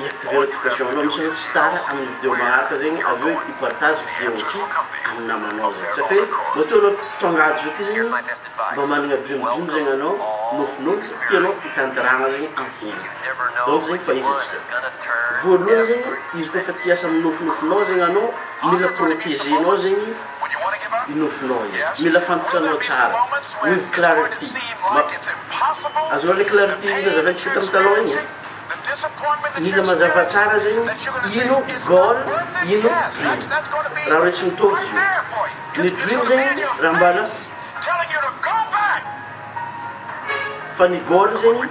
hiactiver notification anao misy hoe tsy tara amin'ny video magnaraka zegny avy eo hipartage video ty amin'ny namanao zegny ça fait matoa anao tonga ato zao ty zegny mba managna dream dream zegny anao nofinofy tianao hitantaragna zegny amin'ny fiaignana donc zegny fahizatsika voalohany zegny izy koa fa ty hiasa amin'ny nofinofinao zegny anao mila proteger nao zegny i nofinao i mila fantatranao tsara with clarity azonao le clarity nazavaintsika tamy taloha igny e Milina mazava tsara zay o. Ino goal ino dream? Raha reo tsy mitovy izy io. Ny dream zegny raha mbala fa ny goal zegny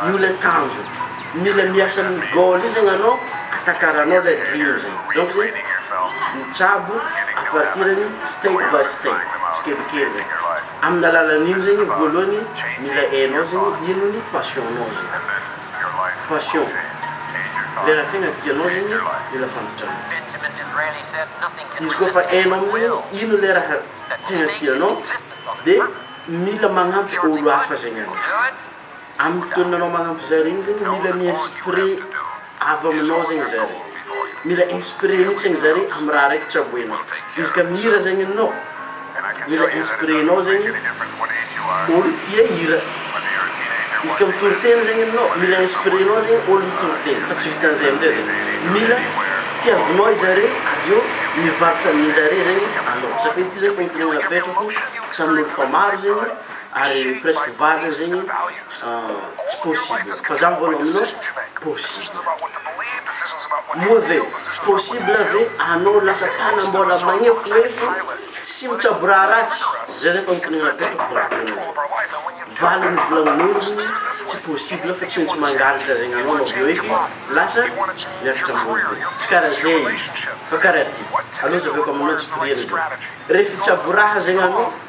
io le tanjona. Mila miasa amin'ny goal io zegny anao atakaranao le dream zegny. Donc zay mitsabo à partir an'ny step by step, tsikelikely regny. Amin'ny alalan'iny zegny voalohany mila hainao zegny ino ny passion-nao zegny. Passion, le raha tegna tianao zegny mila fantatra-nao. Izy koa fa hainao amizay zegny ino le raha tegna tianao de mila magnampy olo hafa zegny anao. Amin'ny fotoana anao manampy zare iny zegny mila mi-inspiré avy aminao zegny zare. Mila inspiré mihitsy zegny zare amy raha araiky tsy amboenao. Izy ka mihira zegny anao, mila inspiré-nao zegny olo tia hira. Izy ka mitory teny zegny anao, mila inspiré-nao zegny olo mitory teny. Fa tsy vitan'izay amy zay zegny. Mila tiavinao i zare avy eo mivarotra amin-jare zegny anao. Zafady ty zany fanontaniana apetrako tamin'olo fa maro zegny. ary presque varina zegny tsy possible fa za mivôlagna aminao possible moa ve possible ve anao lasa mpanambôla magnefonefo tsy mitsabo raha ratsy zay zay fanontaniagna apetrako de avy teo amin'izay valiny volagnin'olo tsy possible fa tsy maintsy mangalatra zegny anao anao avy eo eky lasa miakatra ambony be tsy karaha zay izy fa karaha ty alô zahaveko aminao tsy toriagny ndray re fitsabo raha zegny anao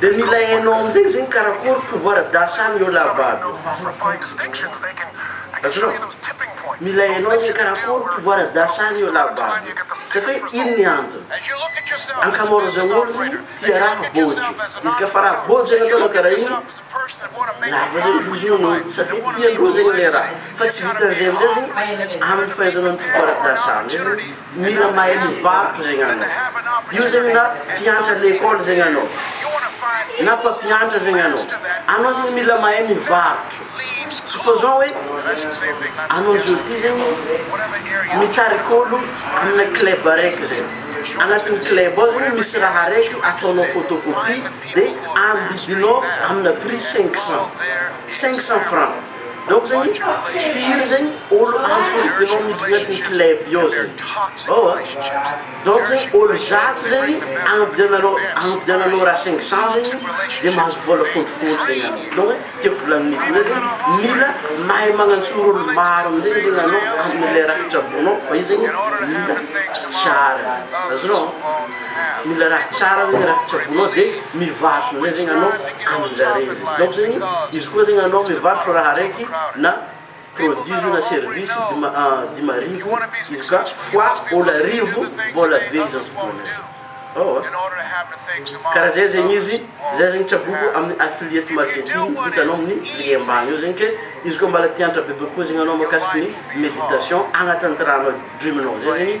Dia mila hainao amin'izay izy mikarakôry pouvoir d'achat amin'io laba aby io. Azonao? Mila hainao izy mikarakôry pouvoir d'achat amin'io laba aby io. Satria ino ny antony? Ankamaroazan'ny olo zany tia raha bôjo. Izy ka fa raha bôjo ianao ataonao karaha iny, Lava zay ny vozonanao satria tiandreo zegny le raha fa tsy vitan'izay amizay zegny amin'ny fahaizanao ny mpifaradasa amin'izay zegny mila mahay mivarotro zegny anao io zegny na mpiantra lekôly zegny anao na mpampiantra zegny anao anao zegny mila mahay mivarotro supposons hoe anao zao ty zegny mitarika olo amina club araiky zegny agnatin'ny club ao zegny misy raha araiky ataonao photocopie Dia ambidinao amina prix cinq cent, cinq cent francs, donc zany firy zany olo ansoritinao miditra agnatin'ny club ao zany ao a, donc zany olo zato zany andiananao andiananao raha cinq cent zany dia mahazo vola fontropotro zany anao, donc hoe tiako volanin'ny hoe zany mila mahay magnantsoro olo maro amizay zany anao amle raha tsabonao fa io zany mila tsara, azonao? Mila raha tsara zegny raha tsaboinao de mivarotro amizay zegny anao aminjareo zegny donc zegny izy koa zegny anao mivarotro raha araiky na produit izy io na service dima dimy arivo izy ka fois olo arivo vola be izy amizao fotoagna zao eoa karaha zay zegny izy zay zegny tsaboiko aminy affiliate marketing hitanao aminy lien ambany eo zegny ke izy koa mbala tiantra bebe kokoa zegny anao makasiky ny meditation agnatin'ny ty raha anao dream anao zay zegny